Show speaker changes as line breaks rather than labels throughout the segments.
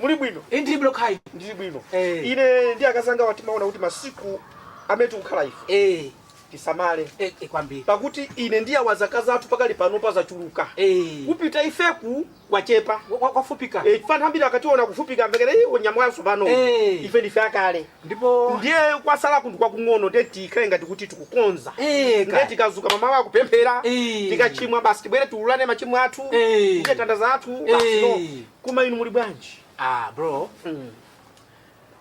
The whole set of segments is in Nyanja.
muli bwino Eh, ndili bwino kaya
ndili
bwino Eh. ine ndi akazangawa timaona kuti masiku amene tikukhala ife Eh, tisamale eh, eh, kwambiri
pakuti ine
ndi awa zaka zathu pakali pano pazachuluka Eh, kupita ifeku kwachepa wa- wa- wafupika Eh,
ana ambiri akationa
kufupika amvekere iwo nyama tsopano Eh. ife ndife akale ndipo
ndiye
kwasala kunthu kwakung'ono ndiye tikhale ngati kuti tikukonza Eh, ndiye kaya. tikazuka mamawa kupemphera Eh. tikachimwa basi tibwere tiulule machimo athu Eh. ndiye tandaza athu basi Eh. no koma inu muli bwanji ah
bro Mm,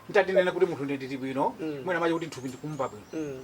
nditanena kuti munthu ndili bwino Mm. mwina mache kuti mthupi ndikumva bwino mm.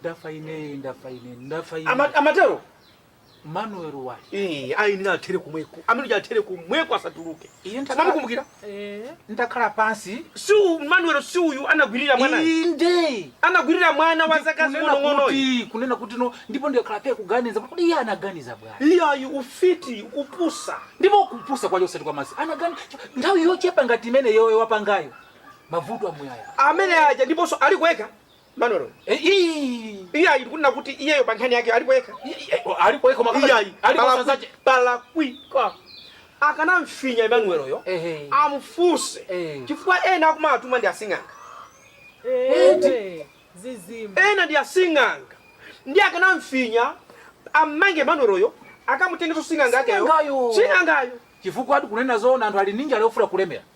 ndafa
ine ndafa ine ndafa ine
Ama-
amatero manuel wali Eh, ayenera
athere kumweko amene uja athere kumweko asatuluke Iye ndakhala- samamukumbukira Eh, ndakhala
pansi si u- manuel si
uyu anagwirira mwanayo inde
anagwirira mwana
wa zaka Kunena zing'onong'ono uyu kuti- kunena kuti
no ndipo ndikakhala phe kuganiza kuti kodi iye anaganiza bwana iyayi
ufiti kupusa ndipo
kupusa kwache osati kwa masi anagani nthawi yochepa ngati imeneyoyo wapangayo mavuto amuyaya amene aja ndiponso
ali kwayekha Manuelo. Eh, ii. Iyayi ndikunena kuti iyeyo pa nkhani yake alipo yekha. I- i- eh, Alipo yekha
mukamba. Iyayi. Alipo Pala-
sanzaje. Palakwika. Akanamfinya Emmanuel yo. Ehe. Amfunse. Eh. Chifukwa ena akumatuma ndi
asing'anga. zizimba Ena ndi
asing'anga. Nde akanamfinya ammange Emmanuel yo akamutengeso sing'anga akeyo. Sing'angayo. Sing'angayo. Chifukwa ati kunena
zoona anthu ali m'njira ali ofuna kulemera.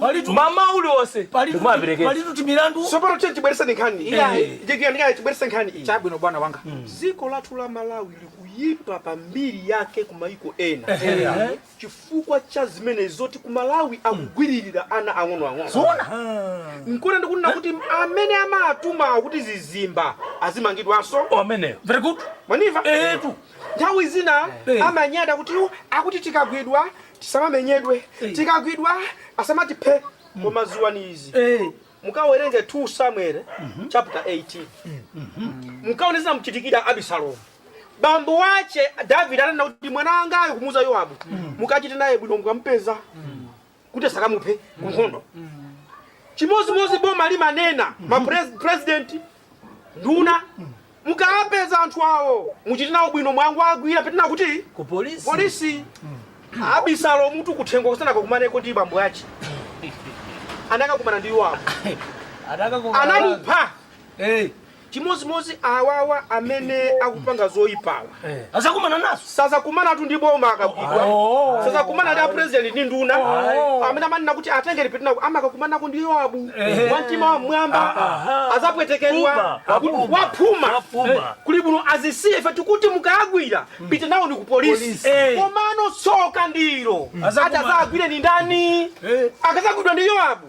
Palitu- mamawa uliwonse palitu mumaperekeza palitu
timilandu sopano tiye tibwerese
nkhani Iyayi. Eh, tiye tiye ndikaye tibwerese nkhani iyi chabwino bwana wanga
dziko lathu la
malawi likuyipa pa mbiri yake ku mayiko ena Ehe. chifukwa cha zimene zoti ku malawi akugwiririra ana
ang'onoang'ono
nkona ndikunena kuti amene amatuma kuti zizimba azimangidwanso ameneyo very good
manimva
etu nthawi zina
Eh. amanyada kuti akuti tikagwidwa tisamamenyedwe Eh. tikagwidwa asamatiphe koma ziwani izi Eh. mukawerenge 2 samuel chapter 18 mukaone zomchitikira abisalomu bambo wache davide ananena kuti mwana wangayo kumuuza yowabu mukachite naye bwino mukampeza kuti asakamuphe kunkhondo chimodzimodzi boma limanena ma pres- president nduna mukawapeza anthu awo muchite nawo bwino mwawagwira pitani nawo ku polisi polisi abisalomutu kuthengo asanakakumaneko ndi bambo ache anakakumana ndi yowabu anamupha chimodzimodzi awawa amene akupanga zoyipawa azakumana nazo
sazakumanatu
ndi boma akagwidwa Oh. sazakumana ndi apresident ndi nduna Oh. amene amanena kuti atengere pituna amakakumanako ndi yoabu Ehe. wa mtima wa mmwamba Aha. azapwetekedwa Puma, Kuti apuma, waphuma apuma. kuli bwino azisiye ife tikuti mukayagwira pita nawoni ku polisi Polisi. Eh. komano tsoka ndilo Azakumana. atazagwire ni ndani Eh. akazagwidwa ndi yoabu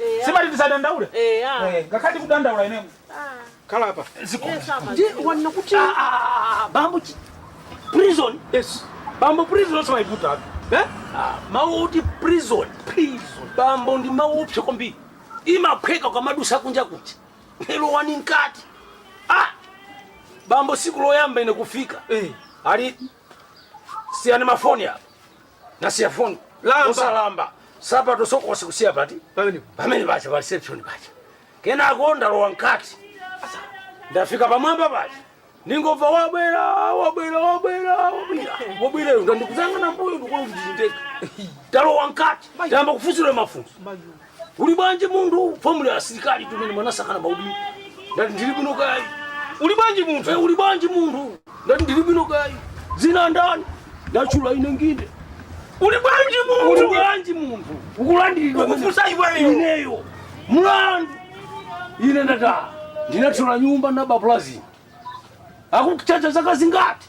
Eya. simati tisadandaule Eya. Eh, ngakhale tikudandaula ineyo Ah. khala
apa Yes, apa. ndi
wanena kuti Ah, ah, ah, ah, bambo chi- prison yes bambo prison osamaiputatu eh? Ah, mawu oti prison prison bambo ndi mawu oopsa kwambiri imaphweka ukamadusa kunja kuja lowani mkati ah! bambo siku loyamba ine kufika Eh. ali siyani mafoni apa nasiya foni Lamba. osalamba nsapato sokosi kusiya pati Pamenepo. pamene paja pa reception paja kenako ndalowa mkati Asa, ndafika pamwamba paja ndingomva wabwera wabwera wabwera wabwera wabwera uyu nde ndikuyang'ana mmbuyo ndikuona kuti nditeka ndalowa mkati ndayamba kufunsidwa mafunso Uli bwanji munthu? Fomu ya asilikali tumene mwanasakana maudindo. Ndati ndili bwino kaya. Uli bwanji munthu? Eh, uli bwanji munthu? Ndati ndili bwino kaya. Dzina ndani? Ndatchula ine ndine. Uli bwanji munthu? Uli bwanji munthu? Ukulandiridwa kufunsa iweyo. Ineyo. Mlandu. Ine ndata. Ndinathyola nyumba na baplazi. Akutchaja zaka zingati?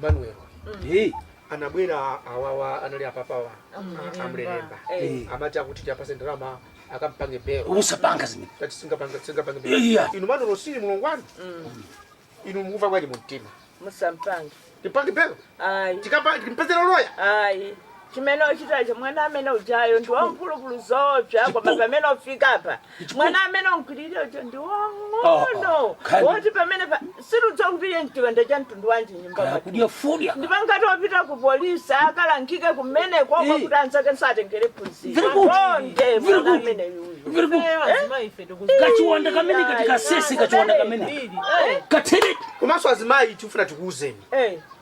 Manuel. Eh. Anabwera awawa anali apapawa. Amulemba. Amulemba. Eh. Amati akuti tiwapatse ndalama akampange belo. Usapange zimene. Tati
singapanga
singapanga belo. Iya. Inu mano losiri mulungu wanu. Inu mukumva bwanji mumtima. Musampange.
Tipange belo.
Ayi. Tikapa
timpezera loya.
Ayi.
chimene uchitacho mwana amene ujayo ndi wamphulupulu zoopsa koma pamene ufika apa mwana amene unagwiririra uja ndi wang'ono Khani. woti pamene pa- sitidziwa kuti iye nchiwanda cha mtundu wanji nyumba kaya mwake kudya fodya ndipo ngati wapita ku polisi akalangike kumene konko Eh. kuti anzake atengere phunziro Very good. Akonde Very mwana good. amene uyu Very good. Eyo, azima ife tikuzi-
kachiwanda kamene kati kasese kachiwanda kamene Ili. katheretu komanso azimayi
tifuna tikuuzeni Eh.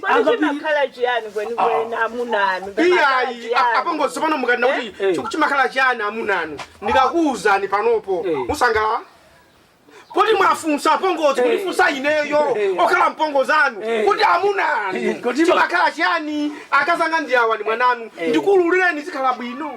Kodi Apa pili- chimakhala chiyani kwenikweni amuna anu? Chimakhala iyayi
chiyani? apongozi pano mukanena kuti Eh, eh. chiku- chimakhala chiyani amunanu ndikakuwuzani panopo Eh. musangalala poti mwafunsa apongozi kundifunsa ineyo Eh. okhala mpongozi anu Eh. kuti Eh, amunanu kuti ma- chimakhala chiyani akazanga ndi awa ndi mwananu Eh. ndikululireni zikhala bwino